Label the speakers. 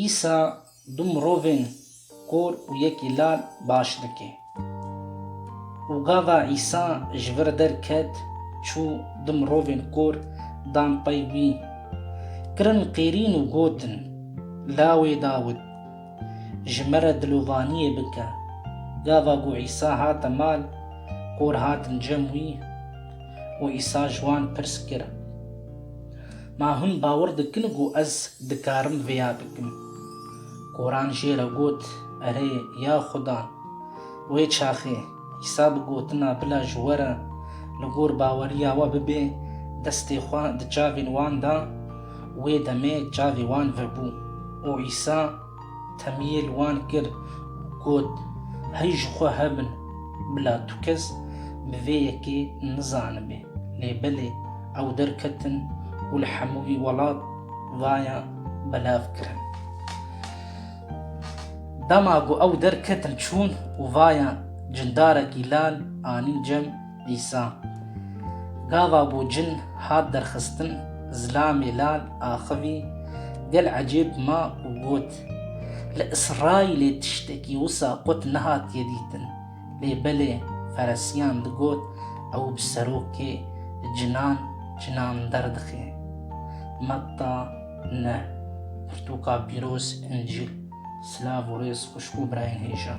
Speaker 1: Îsa du mirovên kor û yekî lal baş dike. Û gava Îsa ji vir derket, çû, du mirovên kor dan pey wî, kirin qêrîn û gotin, Lawê Dawid! Ji me re dilovaniyê bike. Gava ku Îsa hate mal, kor hatin cem wî û Îsa ji wan pirs kir, Ma hûn bawer dikin ku ez dikarim vêya bikim? Koran jê re got, Erê, ya Xuda! Wê çaxê, Îsa bi gotina bila ji we re li gor baweriya we bibê, destê xwe di çavên wan da. Wê demê çavê wan vebû û Îsa, Temiyê li wan kir û got, Hey ji xwe hebin, bila tu kes bi vê yekê nizanibê. Lê belê ew derketin û li hemû vî welat vayan belav kirin. Dema ku ew derketin çûn û vayan cindarekî lal anîn cem, Dîsa gava bû cin hat derxistin zilamê lal axivî gel ecêb ma û got, Li Îsraîlê tiştekî wisa qut nehatiye dîtin. Lê belê feresiyan digot ew bi serokê cinan cinan derdixe. Metta ne. Pirtûka pîroz, Încîl. Silav û rêz xwişk û birayên hêja.